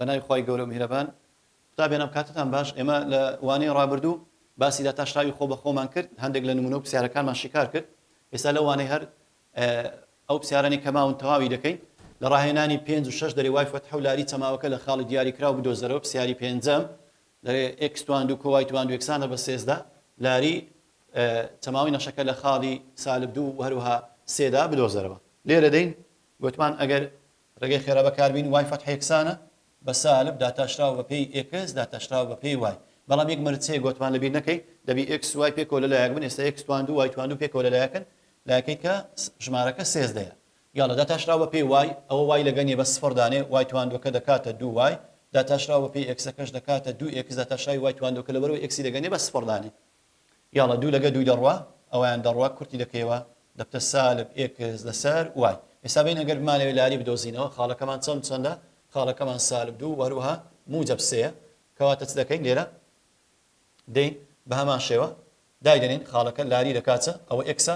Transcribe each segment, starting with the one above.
بەناوی خوای گەورە و میهرەبان. قوتابیانم کاتتان باش ئێمە لە وانەی ڕابردوو باسی داتاشراوی خۆ بە خۆمان کرد هەندێک لە نمونە و پرسیارەکانمان شیکار کرد ئێستا لەو وانەی هەر ئەو پسیارانەی کە ماون تەواوی دەکەین. لە ڕاهێنانی پێنج و شەش دەرێ وای فەتحە و لاری چەماوەکە لە خاڵی دیاریکراو بدۆزەرەوە پسیاری پێنجەم دەرێ ئێکس تواندو کۆ وای تواندو یەکسانە بە سێزدە لاری چەماوەی نەخشەکە لە خاڵی سالب دوو و هەروەها سێدا بدۆزەرەوە لێرە دەین گۆتمان ئەگەر ڕێگەی خێرا بەکاربینی وای فەتحە یەکسانە بە سالب داتاشراو بە پێی ئێکس داتاشراو بە پێی وای بەڵام یەک مەرج هەیە گۆتمان لەبیر نەکەی دەبی ئێکس وای پێکەوە لە لایەک بن ئێستا ئێکس توان دوو وای توان دوو پێکەوە لە لایەکن لایەکەی کە ژمارەکە سێزدەیە یاڵە داتاشراو بە پێی وای ئەوە وای لەگە نیە بە سفڕ دانێ وای تواندوەکە دەکاتە دوو وای داتاشراو بە پێی ئێکسەکەش دەکاتە دوو ئێکس داتاشراوی وای تواندوەکە لەبەرەوەی ئێکسی لەگە نیە بە سفڕ دانێ یاڵە دوو لەگە دووی دەڕوا ئەویان دەڕوا کورتی دەکەیەوە دەبتە سالب ئێکس لەسەر وای ئێستا بین ئەگەر بمانەوێت لاری بدۆزینەوە خاڵەکەمان چەند چەندە خاڵەکەمان سالب دوو وەروها موجب سێە کەواتە چ دەکەین لێرە دەین بە هەمان شێوە دایدەنین خاڵەکە لاری دەکاتە ئەوە ئێکسە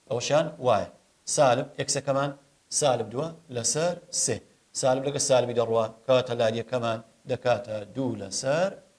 ئەوەشان وایە سالب ئێکسەکەمان سالب دووە لەسەر سێ سالب لەگە سالبی دەڕوا کەواتە لاریەکەمان دەکاتە دوو لەسەر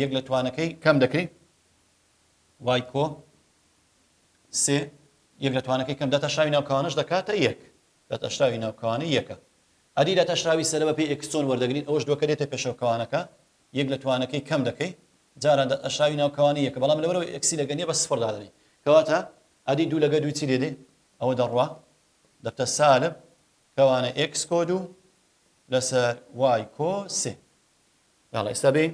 یەک لە توانەکەی کەم دەکەی وای کۆ سێ یەک لە توانەکەی کەم دەتەشاوی ناوکەوانش دەکاتە یەک دەتەشاوی ناوکەوانە یەکە ئەدی لە تەشراوی سەرە بە پێی ئەکسۆن وەردەگرین ئەوش دووەکە دێتە پێشەوکەوانەکە یەک لە توانەکەی کەم دەکەی جارە ئەشاوی ناوکەوانی یەکە بەڵام لەوەرەوە ئەکسی لەگە نیە بە سفر دادەنی کەواتە ئەدی دوو لەگە دووی چی لێ دێ ئەوە دەڕوا دەبتە سالب کەوانە ئکس کۆ دوو لەسەر وای کۆ سێ یاڵڵا ئیستا بێین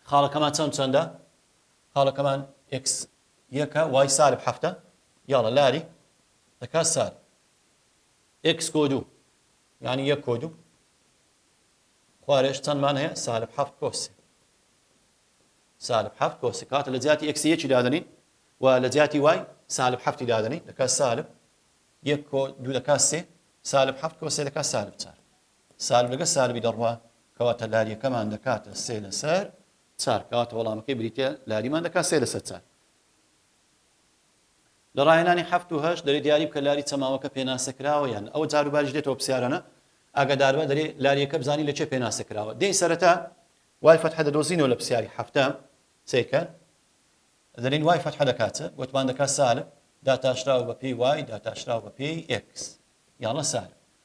خاڵەکەمان چەند چەندە خاڵەکەمان ئێکس یەکە وای سالب حەفتە یاڵە لاری دەکات سال ئێکس کۆ دوو یعنی یەک کۆ دوو خوارێش چەندمان هەیە سالب حەفت کۆسی سالب حەفت کۆسی کاتە لە جیاتی ئەکسی یەکی دادنین و لە جیاتی وای سالب حەفتی دادنین دەکات سالب یەک کۆ دوو دەکات سێ سالب حەفت کۆسێ دەکات سالب چار سالبگە سالبی دەڕوا کەواتە لاریەکەمان دەکاتە سێ لەسەر چار کەواتە وەڵامەکەی بریتە لاریمان دەکات سێ لەسەر چار لە ڕاهێنانی هەفت و هەشت دەرێ دیاری بکە لاری چەماوەکە پێناسە کراوە یان ئەوە جاروباریش دێتەوە پرسیارانە ئاگاداربە دەرێ لاریەکە بزانین لە چێ پێناسە کراوە دێی سەرەتا وای فەتحە دەدۆزینەوە لە پرسیاری هەفتە سیکە دەرین وای فەتحە دەکاتە وتمان دەکات سالب داتاشراوە بە پێی وای داتاشراوە بە پێی ئێکس یاڵە سالب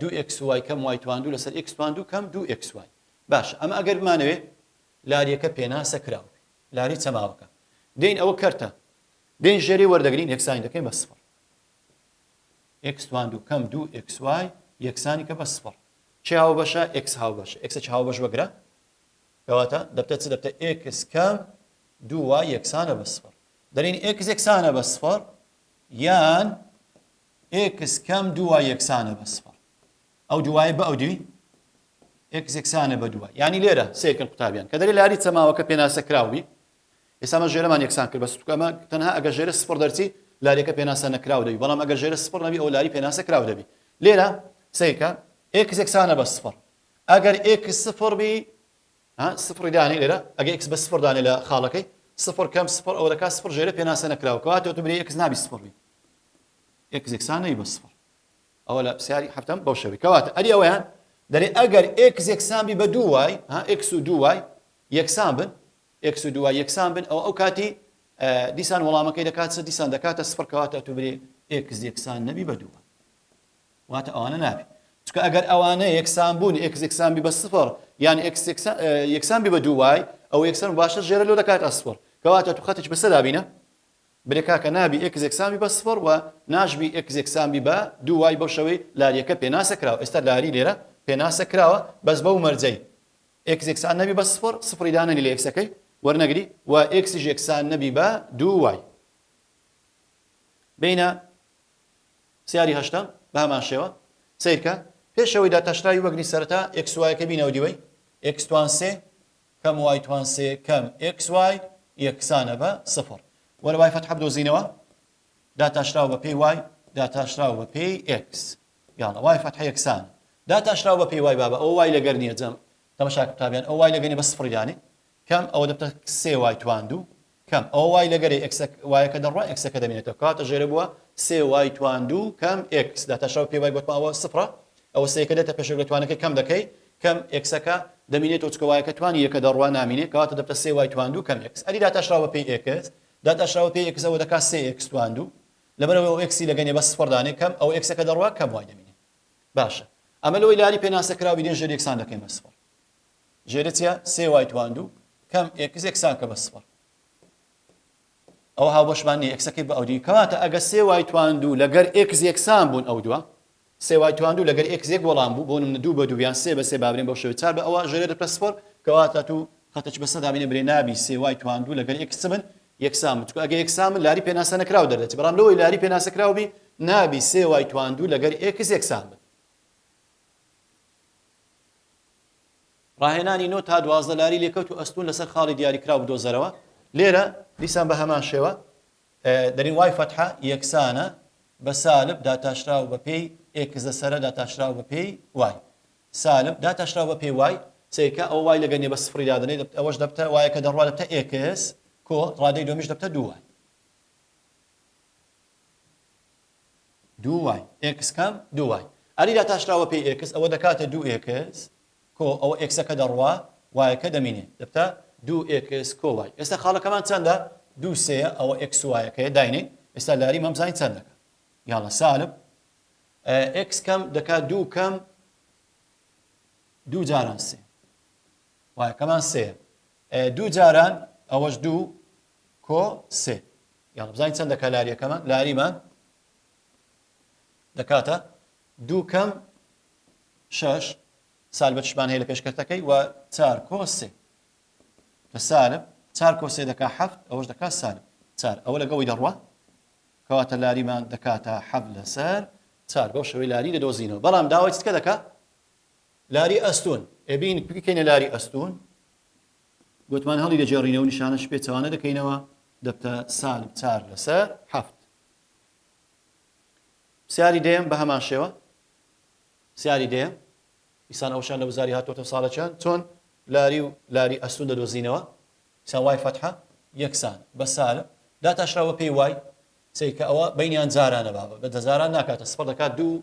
دوو ئێکس وای کەم وای توان دوو لەسەر ئێکس توان دوو کەم دوو ئێکس وای باشە ئەمە ئەگەر بمانەوێ لاریەکە پێناسە کراوە بێ لاری چەماوەکە دێین ئەوە کەرتە دێن ژێری وەردەگرین یەکسانی دەکەین بە سفر ئێکس توان دوو کەم دوو ئێکس وای یەکسانی کە بە سفر چی هاو بەشە ئێکس هاو بەشە ئێکسە چ هاو بەش وەگرە کەواتە دەبتە چ دەبتە ئێکس کەم دوو وای یەکسانە بە سفر دەرین ئێکس یەکسانە بە سفر یان ئێکس کەم دوو وای یەکسانە بە سفر ئەو دوایە بە ئەو دوی ئێکس یەکسانە بە دووە یانی لێرە سێکن قوتابیان کە دەری لاری چەماوەکە پێناسە کراوی ئێسامە ژێرەمان یەکسان کرد بە سوکەمە تەنها ئەگە ژێرە سفر دەرچی لاریەکە پێناسە نەکراو دەبی بەڵام ئەگە ژێرە سفر نەبی ئەو لاری پێناسە کراو دەبی لێرە سیکە ئێکس یەکسانە بە سفر ئەگەر ئێکس سفر بی سفری دانێ لێرە ئەگە ئێکس بە سفر دانێ لە خاڵەکەی سفر کەم سفر ئەوەکە سفر ژێرە پێناسە نەکراو کەواتەوە تو برێ ئێکس نابی سفر بی ئێکس یەکسانەی بە سفر ئەوە لە پرسیاری حەفتەم بەو شەوی کەواتە ئەری ئەوەیان دەرێ ئەگەر ئێکس یەکسان بی بە دوو وای ها ئێکس و دوو وای یەکسان بن ئێکس و دوو وای یەکسان بن ئەو ئەو کاتی دیسان وەڵامەکەی دەکات سە دیسان دەکاتە سفر کەواتە تو برێ ئێکس یەکسان نەبی بە دووە واتە ئەوانە نابی چکە ئەگەر ئەوانە یەکسان بوون ئێکس یەکسان بی بە سفر یان ئێکس یەکسان بی بە دوو وای ئەو یەکسان باشە ژێرە لۆ دەکات ئەسفر کەواتە تو خەتێک بەسەر دابینە برێ کاکە نابی ئێکس یەکسان بی بە سفڕ وە ناش بی ئێکس یەکسان بی بە دوو وای بەو شەوەی لاریەکە پێناسە کراوە ئێستا لاری لێرە پێناسە کراوە بەس بەو مەرجەی ئێکس یەکسان نەبی بە سفڕ سفڕی دانەنی لە ئێکسەکەی وەرنەگری و ئێکسیش یەکسان نەبی بە دوو وای بینە سیاری هەشتەم بە هەمان شێوە سیرکە پێشەوەی داتاشراوی وەگری سەرتا ئێکس وایەکە بینەوە دیوەی ئێکس توان سێ کەم وای توان سێ کەم ئێکس وای یەکسانە بە سفر. بۆ لە وای فەتحە بدۆزینەوە داتاشراو بە پێی وای داتاشراو بە پێی ئێکس. یاڵە وای فەتحە یەکسانە داتاشراو بە پێی وای بابە ئەو وای لەگەر نییە جەم تەمەشاکە قوتابیان ئەو وای لەگەنی بە سفری دانێ کەم ئەوە دەبتە سێ وای توان دوو کەم ئەوە وای لە گەرەی ئێکسە وایەکە دەڕوا ئێکسەکە دەمێنێتەوە کەواتە ژێرە بووە سێ وای توان دوو کەم ئێکس داتاشاو پێ وای گوتمەوە سفرە ئەوە سێکە دێتە پێشێک لە توانەکەی کەم دەکەی کەم ئێکسەکە دەمینێتەوە چکە وایەکە توانی یەکە دەڕوا نامینێ کەواتە دەبتە سێ وای توان دوو کەم ئێکس ئەری داتاشراوە پێی ئێکس داتاشراوە پێی ئێکسەوە دەکات سێ ئێکس توان دوو لەبەرەوە ئەو ئێکسی لەگەنێ بە سفر دانێ کەم ئەو ئێکسەکە دەڕوا کەم وای دەمینێ باشە ئەمە لەوەی لاری پێناسە کراوی دێ ژێر یەکسان دەکەین بە سفر ژێرە چیە سێ وای تواندوو کەم ئێکس ئێکساکە بە سفر ئەو هاوبەشمان نیە ئێکسەکەی بە ئەودی کەواتە ئەگە سێ وای تواندوو لەگەر ئێکس یەکسان بوون ئەو دووە سێ وای تواندوو لەگەر ئێکس یەک وەڵام بوو بۆ من دوو بە دوویان سێ بە سێ بابرێن بەو شێوە چار بە ئەوە ژێرە دەپە سفر کەواتە تو خەتەچ بە سەدا بینە برێ نابی سێ وای تواندوو لەگەر ئێکس من یەکسان چکو ئەگە یەکسان من لاری پێناسە نەکراو دەردەچ بەڵام لەوەی لاری پێناسە کراوبی نابی سێ وای تواندوو لەگەر ئێکس یەکسان بن ڕاهێنانی نۆ تا دوازدە لاری لێکەوت و ئەستوون لەسەر خاڵی دیاریکراو بدۆزەرەوە، لێرە دیسان بە هەمان شێوە دەرین وای فەتحە یەکسانە بە سالب داتاشراو بە پێی ئێکس دەسەرە داتاشراو بە پێی وای سالب داتاشراو بە پێی وای سەیرکە ئەوە وای لەگەر نیە بە سفڕی دادەنێت ئەوەش دەبتە وایەکە دەڕوا دەبتە ئێکس کۆ ڕادەی دومیش دەبتە دوو وای دوو وای ئێکس کام؟ دوو وای ئاری داتاشراوە پێی ئێکس ئەوە دەکاتە دوو ئێکس کۆ ئەوە ئێکسەکە دەڕوا وایەکە دەمینێ دەبتە دوو ئێکس کۆ وای ئێستا خاڵەکەمان چەندە؟ دوو سێیە ئەوە ئێکس وایەکەیە داینێ ئێستا لاری مەمزانی چەندەکە یاڵە سالب ئێکس کەم دەکات دوو کەم دوو جاران سێ وایەکەمان سێ دوو جاران ئەوەش دوو کۆ سێ یاڵە بزانین چەند دەکا لاریەکەمان لاریمان دەکاتە دوو کەم شش سال بەچمان هەیە لە پێشکەتەکەی و چار کۆ سێ کە سالب چار کۆ سێ دەکا حەفت ئەوەش دەکات سالب چار ئەوە لەگەڵی دەڕوە کەواتە لاریمان دەکاتە حەب لەسەر چار بەو شوی لاری دەدۆزینەوە بەڵام داوای چکە دەکە لاری ئەستون ئەبین بکەینە لاری ئەستون گوتمان هەڵیدەگێڕینەوە نیشانە شپێچەوانە دەکەینەوە دەبتە سالب چار لەسەر حەفت پرسیاری دەیەم بە هەمان شێوە پرسیاری دەیەم ئیسان ئەوشان لە وزاری هاتۆتە ساڵەکان چۆن لاری و لاری ئەستون دەدۆزینەوە ئیسان وای فەتحە یەکسان بە سالب داتاشراوە پێی وای سەیکە ئەوە بینیان جارانە بابە بە دەزاران ناکاتە سپڕ دەکات دوو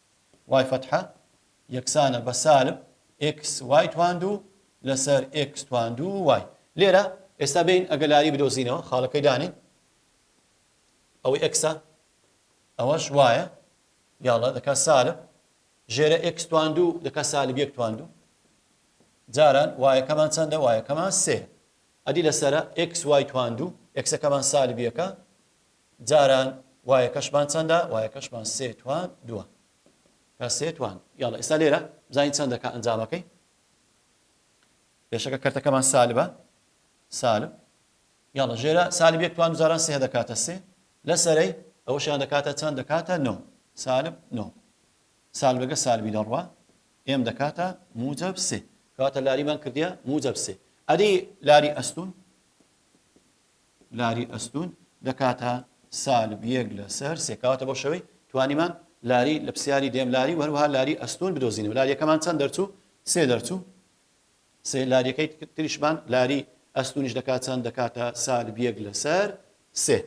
وای فەتحە یەکسانە بە سالب ئێکس وای تواندوو لەسەر ئێکس تواندوو وای. لێرە ئێستا بێین ئەگەلاری بدۆزینەوە، خاڵەکەی دانێین. ئەوەی ئێکسە، ئەوەش وایە، یاڵڵا دەکات سالب ژێرە ئێکس تواندوو دەکات سالب یەک تواندوو. جاران وایەکەمان چەندە؟ وایەکەمان سێ. ئەدی لەسەرە ئێکس وای تواندوو، ئێکسەکەمان سالب یەکە، جاران وایەکەشمان چەندە؟ وایەکەشمان سێ توان دووە. کە سێ توان. یاڵڵا ئێستا لێرە بزانین چەند دەکا ئەنجامەکەی. پێشەکە کەرتەکەمان سالبە. سالب. یاڵە ژێرە سالب یەک توان جاران سێ دەکاتە سێ لە سەرەی ئەوەشیان دەکاتە چەند دەکاتە نۆ سالب نۆ سالبەکە سالبی دەڕوا ئێم دەکاتە موجب سێ کاتە لاریمان کردە موجب سێ ئەدی لاری ئەستون لاری ئەستوون دەکاتە سالب یەک لەسەر سێ کەواتە بۆ شەوەی توانیمان لاری لە پسیاری دێم لاری و هەروها لاری ئەستوون بدۆزینەوە لاریەکەمان چەند دەرچوو سێ دەرچوو سێ لاریەکەی تریشمان لاری ئەستونیش دەکات چەند دەکاتە سالب یەک لەسەر سێ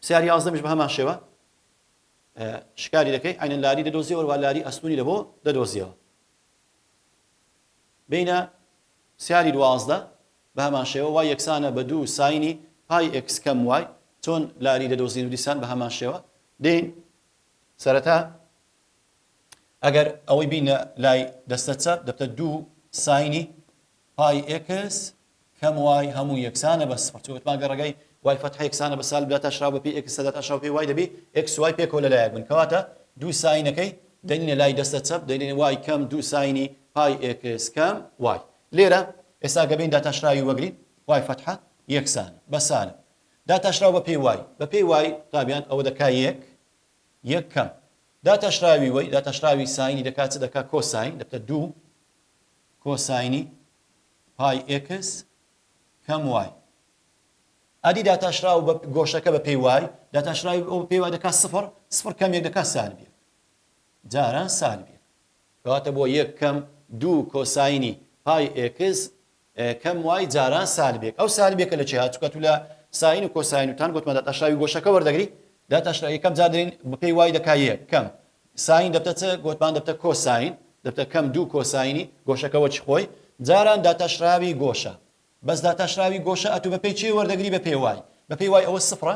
سیار یازدەمیش بە هەمان شێوە شکاری دەکەی عینەن لاری دەدۆزیەوە وەروە لاری ئەستونی لە بۆ دەدۆزیەوە بینە سیاری دوازدە بە هەمان شێوە وای یەکسانە بە دوو ساینی پای ئێکس کەم وای، چۆن لاری دەدۆزین و دیسان بە هەمان شێوە دێین. سەرەتا ئەگەر ئەوەی بینە لای دەستە چەپ دەبتە دوو ساینی پای ئێکس کەم وای هەموو یەکسانە بە سفر، چونکە وتمان گەر ڕێگای وای فەتحە یەکسانە بە سالب داتاشراو بە پێی ئێکس داتاشراو پێی وای دەبی ئێکس وای پێکەوە لە لایەک بن، کەواتە دوو ساینەکەی دەنینە لای دەستە چەپ دەینین وای کەم دوو ساینی پای ئێکس کەم وای. لێرە ئێستا گەبین داتاشراوی وەگری، وای فەتحە، یەکسانە، بە سالب. داتاشراو بە پێی وای، بە پێی وای رابیان ئەوە دەکا یەک، یەک کەم. داتاشراوی وەی، داتاشراوی ساینی دەکا چ دەکا کۆساین، دەبتە دوو کۆساینی پای ئێکس کەم وای. ئەدی داتاشراو بە گۆشەکە بە پێی وای، داتاشراوی ئەوە پێی وای دەکا سفر، سفر کەم یەک دەکا سالب یەک. جاران سالب یەک. کەواتە بۆ یەک کەم دوو کۆساینی پای ئێکس کەم وای جاران سالبێک ئەو سالبێکە لە چیا چکە تو لە ساین و کۆساین و تان گوتمە داتاشراوی گۆشەکە وەردەگری داتاشرا یەکەم جار دەین بەپێی وای دەکا یەک کەم ساین دەبتە چ گوتمان دەبتە کۆساین دەبتە کەم دوو کۆساینی گۆشەکە وەچی خۆی جاران داتاشراوی گۆشە بەس داتاشراوی گۆشە ئەتو بەپێی چێ وەردەگری بەپێی وای بەپێی وای ئەوە سفرە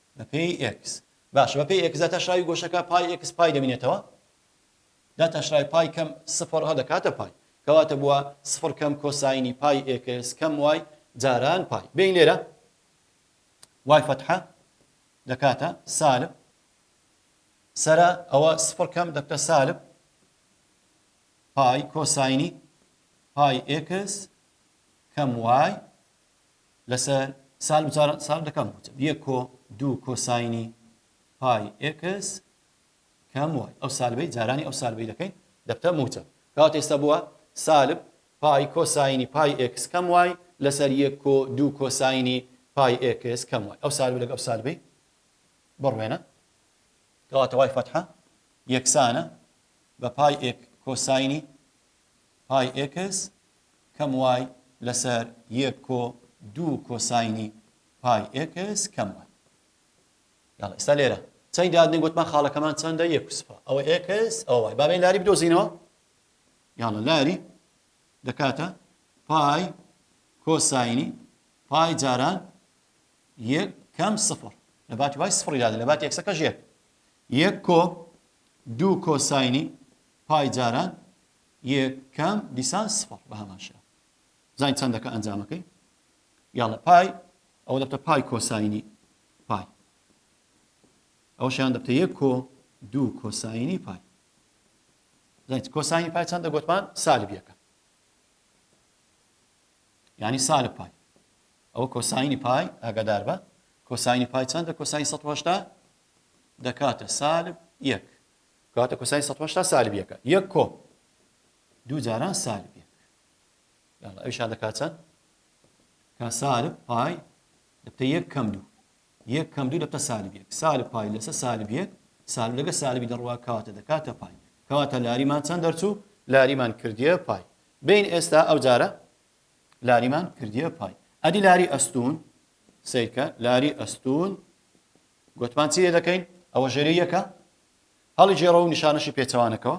بەپێی ئێکس. باشە بەپێی ئێکس داتاشراوی گۆشەکە پای ئێکس پای دەمینێتەوە؟ داتاشراوی پای کەم سفڕ ە دەکاتە پای. کەواتە بووە سفڕ کەم کۆساینی پای ئێکس کەم وای جاران پای. بێین لێرە وای فەتحە دەکاتە سالب سەرە ئەوە سفڕ کەم دەکتە سالب پای کۆساینی پای ئێکس کەم وای لەسەر سال بچار سال دەکەم بچم یەک کۆ دوو کۆساینی پای ئێکس کەم وای ئەو سالبەی جارانی ئەو سالبەی دەکەین دەبتە موچە کات ئێستا بووە سالب پای کۆساینی پای ئێکس کەم وای لەسەر یەک کۆ دوو کۆساینی پای ئێکس کەم وای ئەو سالب لەگە ئەو سالبەی بڕوێنە کەواتەوای فەتحە یەکسانە بە پای ئێک کۆساینی پای ئێکس کەم وای لەسەر یەک کۆ دوو کۆساینی پای ئێکس کەم وای. یاڵڵا ئێستا لێرە چەنی دادنێ گۆتمان خاڵەکەمان چەندە یەک و سفە ئەوە ئێکس ئەوە وای بابێن لاری بدۆزینەوە یاڵە لاری دەکاتە پای کۆساینی پای جاران یەک کەم سفر لە باتی وای سفڕی دادە لە باتی یەکسەکەش یەک یەک کۆ دوو کۆساینی پای جاران یەکەم دیسان سفر بە هەمان شێوە زانین چەند دەکە ئەنجامەکەی یاڵە پای ئەوە دەبتە پای کۆساینی پای ئەو شیان دەبتە یەک کۆ دوو کۆساینی پای زانیت کۆساینی پای چەندە گوتمان سالب یەکە ینی سالب پای ئەوە کۆساینی پای ئاگادار بە کۆساینی پای چەندە کۆساین 1970 دەکاتە سالب یەک کەواتە کۆساین سەد و هەشتا سالب یەکە یەک کۆ دوو جاران سالب یەک یاڵا ئەویشان دەکات چەند کە سالب پای دەبتە یەک کەم دوو یەک کەم دوو دەبتە سالب یەک سالب پای لەسە سالب یەک سالب لەگە سالبی دەڕوا کەواتە دەکاتە پای کەواتە لاریمان چەند دەرچوو لاریمان کردیە پای بین ئێستا ئەو جارە لاریمان کردیە پای ئەدی لاری ئەستون سیرکە لاری ئەستون گوتمان چی لێدەکەین؟ ئەوە ژێری یەکە، هەڵیگێڕەوە و نیشانەشی پێچەوانەکەوە،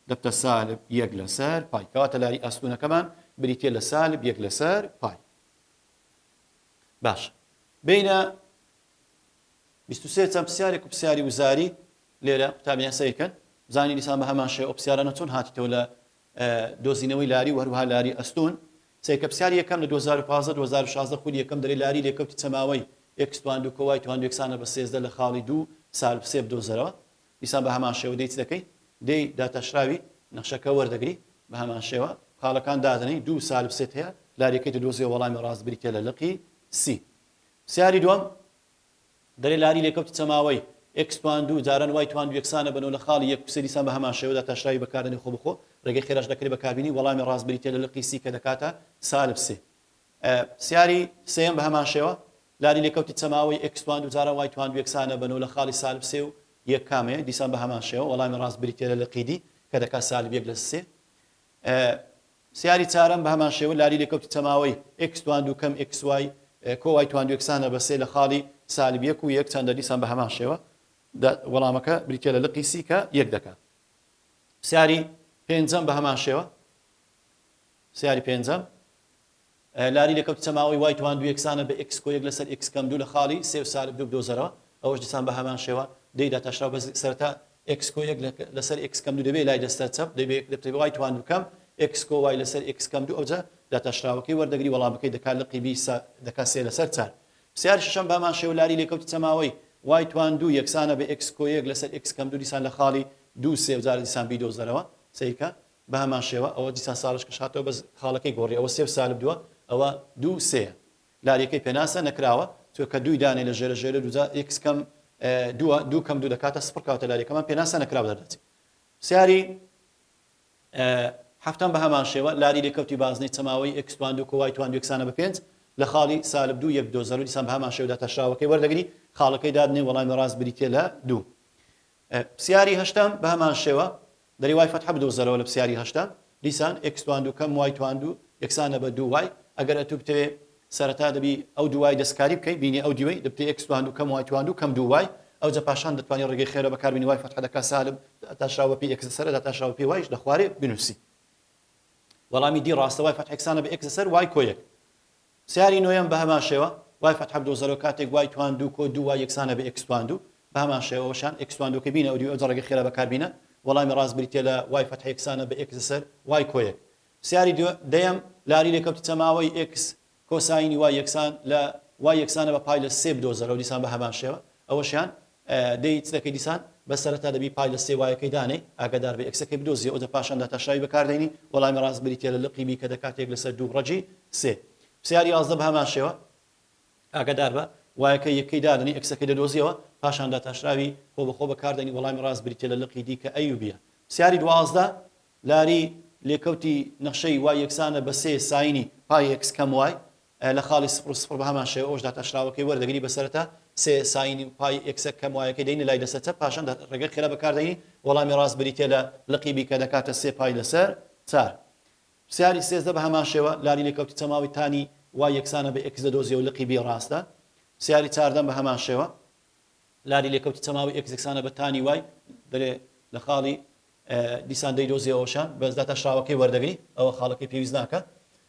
دەبتە سالب یەک لەسەر پای، کەواتە لاری ئەستوونەکەمان بریتییە لە سالب یەک لەسەر پای. باشە بینە بیست و سێ چەند پرسیارێک و پرسیاری وزاری لێرە قوتابیان سەیرکەن بزانین دیسان بە هەمان شێوە ئەو پرسیارانە چۆن هاتیتەوە لە دۆزینەوەی لاری و هەروەها لاری ئەستوون سەیرکە پرسیاری یەکەم لە دوو هەزار و پازدە دوو هەزار و شازدە خولی یەکەم دەرێ لاری لێکەوتی چەماوەی ئێکس تواندو کۆوای تواندو یەکسانە بە سێزدە لە خاڵی دوو سالب سێ بدۆزەرەوە دیسان بە هەمان شێوە دەی چ دەکەی دێی داتاشراوی نەخشەکە وەردەگری بە هەمان شێوە خاڵەکان دادەنێی دوو سالب سێت هەیە لاریەکەی دەدۆزیەوە وەڵامی ڕاست بریتیە لە لقی سی پرسیاری دووەم دەرێ لاری لێکەوت چەماوەی، ئێکس توان دوو، جاران وای توان دوو یەکسانە بە نۆ لە خاڵی یەک، قسەی دیسان بە هەمان شێوەدا تاشراوی بەکار دەنێ خۆ بەخۆ، ڕێگەی خێراش دەکرێ بە کاربینی، وەڵامی ڕاست بریتیە لە لقی سی کە دەکاتە سالب سێ. پرسیاری سێیەم بە هەمان شێوە، لاری لێکەوتی چەماوەی، ئێکس توان دوو، جاران وای توان دوو یەکسانە بە نۆ لە خاڵی سالب سێ و یەک کامەیە؟ دیسان بە هەمان شێوە، وەڵامی ڕاست بریتیە لە لقی دی کە دەکات سالب یەک لە سێ. پرسیاری چارەم، بەهەمان شێوە لاری لێکەوتی چەماوەی، ئێکس تواندو کەم ئێکس وای، کۆ وای تواندو یەکسانە بە سێ لە خاڵی سالب یەک و یەک چەندە؟ دیسان بەهەمان شێوە دە وەڵامەکە بریتیە لە لقی سی کە یەک دەکا. پرسیاری پێنجەم، بەهەمان شێوە. پرسیاری پێنجەم. لاری لێکەوت چەماوەی وای تواندو یەکسانە بە ئێکس کۆیەک لەسەر ئێکس کەم دوو لە خاڵی سێ و سالب دوو بدۆزەرەوە ئەوەش دیسان بە هەمان شێوە دەیدا تاشراو بەس سەرەتا ئێکس کۆ یەک لەسەر ئێکس کەم دوو دەبێ لای دەستە چەپ دەبێ یەک دەبێ وای تواندو کەم ئێکس کۆ وای لەسەر ئێکس کەم دوو ئەوجا داتاشراوەکەی وەردەگری وەڵامەکەی دەکا لقی بی سە دەکا سێ لەسەر چار پرسیاری شەشەم بە هەمان شێوە لاری لێکەوت چەماوەی وای تواندو یەکسانە بە ئێکس کۆ یەک لەسەر ئێکس کەم دوو دیسان لە خاڵی دوو سێ و جارە دیسان بیدۆزەرەوە سەیرکە بە هەمان شێوە ئەوە دیسان ساڵش کەش هاتەوە بەس خاڵەکەی گۆڕی ئەوە سێ و سالب دووە ئەوە دوو و سێیە لاریەکەی پێناسە نەکراوە تۆ کە دووی دانێ لە ژێرە ژێرە دووجا ئیکس کەم دووە دوو کەم دوو دەکاتە سفر کەواتە لاریەکەمان پێناسە نەکراو دەردەچێت پرسیاری هەفتان بە هەمان شێوە لاری لێکەوتی بازنەی چەماوەی ئکس توان دوو کۆوای توان دوێکسانە بە پێنج لە خاڵی سالب دوو یەک دۆ زەرو دیسان بە هەمان شێودا تەشراوەکەی وەردەگری خاڵەکەی دادنێ وەڵامی ڕاست بریتە لە دوو پسیاری هەشتەم بە هەمان شێوە، دەری وای فەتحە بدۆزەرەوە لە پسیاری هەشتەم، دیسان ئێکس تواندوو کەم وای تواندوو یەکسانە بە دوو وای، ئەگەر ئەتوو بتەوێ سەرەتا دەبی ئەو دوو وای دەستکاری بکەی، بینی ئەو دیوەی، دەبتە ئێکس تواندوو کەم وای تواندوو کەم دوو وای، ئەوجە پاشان دەتوانی ڕێگەی خێرا بەکار بێنی وای فەتحە دەکا سالب داتاشراو بەپێی ئێکس لەسەر داتاشراو بەپێی وایش دەخوارێ بنووسی وەڵامی دی ڕاستە وای فەتحە یەکسانە بە ئێکس لەسەر وای کۆیەک. سیاری نۆیەم بەهەمان شێوە وای فەتحە بدۆ زەرۆ کاتێک وای تواندوو کۆ دوو وای یەکسانە بە ئێکس تواندوو بەهەمان شێوەوەشان ئێکس تواندووەکەی بینە ئەودیو ئەو جەڕگە خێرا بەکار بینە وەڵامی ڕاست بریتیە لە وای فەتحە یەکسانە بە ئێکس لەسەر وای کۆ یەک سیاری دو دەیەم لاری لێکەوتی چەماوەی ئێکس کۆساینی وای یەکسان لە وای یەکسانە بە پای لە سێ بدۆزەرەوە دیسان بەهەمان شێوە ئەوەشیان دەی چ دەکەی دیسان؟ بەس سەرەتا دەبی پای لە سێ وایەکەی دانێی، ئاگادار بی ئەکسەکەی بدۆزیە و دە پاشان داتاشراوی بەکاردێنی، وەڵامی ڕاست بریتیە لە لقی بی کە دەکاتە یەک لەسەر دوو ڕەگی سێ. پسیار یازدە بەهەمان شێوە، ئاگادار بە، وایەکە یەکەی دادەنێی ئەکسەکەی دەدۆزیەوە پاشان داتاشراوی خۆ بەخۆ بەکاردێنی، وەڵامی ڕاست بریتیە لە لقی دی کە ئەی و بیە. پسیاری دوازدە لاری لێکەوتی نەخشەی وای یەکسانە بە سێ ساینی پای ئێکس کەم وای. لە خاڵی سفر و سفر بە هەمان شێوە ئەوەش داتاشراوەکەی وەردەگری بە سەرەتا سێ ساینی و پای ئێکسە کەم وایەکەی دەینە لای دەستە چەپ پاشان دات ڕێگەی خێرا بەکار دەینی وەڵامی ڕاست بریتیە لە لقی بی کە دەکاتە سێ پای لەسەر چار پرسیاری سێزدە بە هەمان شێوە لاری لێکەوتی چەماوەی تانی وای یەکسانە بە ئێکس دەدۆزیە و لقی بی ڕاستە پرسیاری چاردەم بە هەمان شێوە لاری لێکەوتی چەماوەی ئێکس یەکسانە بە تانی وای دەرێ لە خاڵی دیسان دەیدۆزیەوەشان بەس داتاشراوەکەی وەردەگری ئەوە خاڵەکەی پێویست ناکە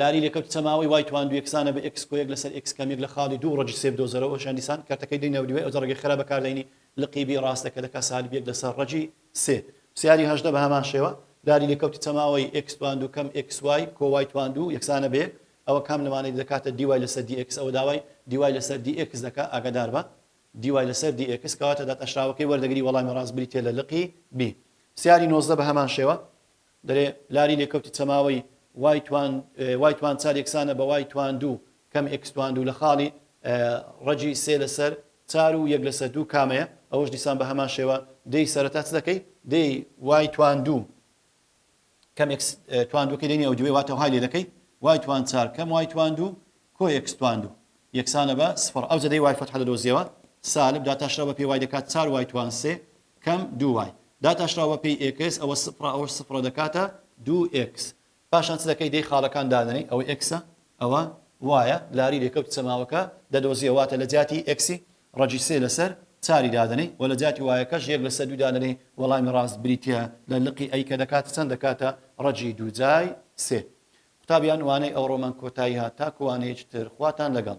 لاری لەکە کچە ماوەی وای تواندو یەکسانە بە ئێکس کۆیەک لەسەر ئێکس کەمیەک لە خاڵی دوو ڕەجی سێ بدۆزەرەوە ئەوشیان دیسان کەرتەکەی دەی ناو دیوای ئەوجە ڕەگێ خێرا بەکار دەینی لقی بی ڕاستە کە دەکا سالب یەک لەسەر ڕەجی سێ پسیاری هەژدە بە هەمان شێوە لاری لەکە کچە ماوەی ئێکس تواندو کەم ئێکس وای کۆ وای تواندو یەکسانە بە یەک ئەوە کام لەمانەی دەکاتە دی وای لەسەر دی ئێکس ئەوە داوای دی وای لەسەر دی ئێکس دەکا ئاگادار بە دی وای لەسەر دی ئێکس کەواتە داتاشراوەکەی وەردەگری وەڵامی ڕاست بریتیە لە لقی بی پسیاری نۆزدە بە هەمان شێوە دەرێ لاری لێکەوتی چەماوەی، وای توان وای توان چار یەکسانە بە وای توان دوو کەم ئێکس توان دوو لە خاڵی ڕەگی سێ لەسەر چار و یەک لەسەر دوو کامەیە؟ ئەوەش دیسان بە هەمان شێوە دێی سەرەتا چ دەکەی؟ دێی وای توان دوو کەم ئێکس توان دووەکەی لێ نیەوجوێ واتە وهای لێ دەکەی وای توان چار کەم وای توان دوو کۆ ئێکس توان دوو یەکسانە بە سفڕ ئەوجە دێی وای فەتحە دەدۆزیەوە سالب داتاشراو بە پێ وای دەکات چار وای توان سێ کەم دوو وای داتاشراو بە پێی ئێکس ئەوە سفرە ئەوەش سفرە دەکاتە دوو ئێکس پاشان چ دەکەی دەی خاڵەکان دادەنێی ئەوە ئێکسە ئەوە وایە لاری لێکەوتی چەماوەکە دەدۆزیەوە واتە لە جیاتی ئێکسی ڕەجی سێ لەسەر چاری دادەنێی وە لە جیاتی وایەکەش یەک لەسەر دوو دادەنێی وەڵامی ڕاست بریتیە لە لقی ئەی کە دەکاتە چەند دەکاتە ڕەجی دوو جای سێ قوتابیان وانەی ئەوڕۆمان کۆتایی هات تاکو وانەیەکی تر خواتان لەگەڵ.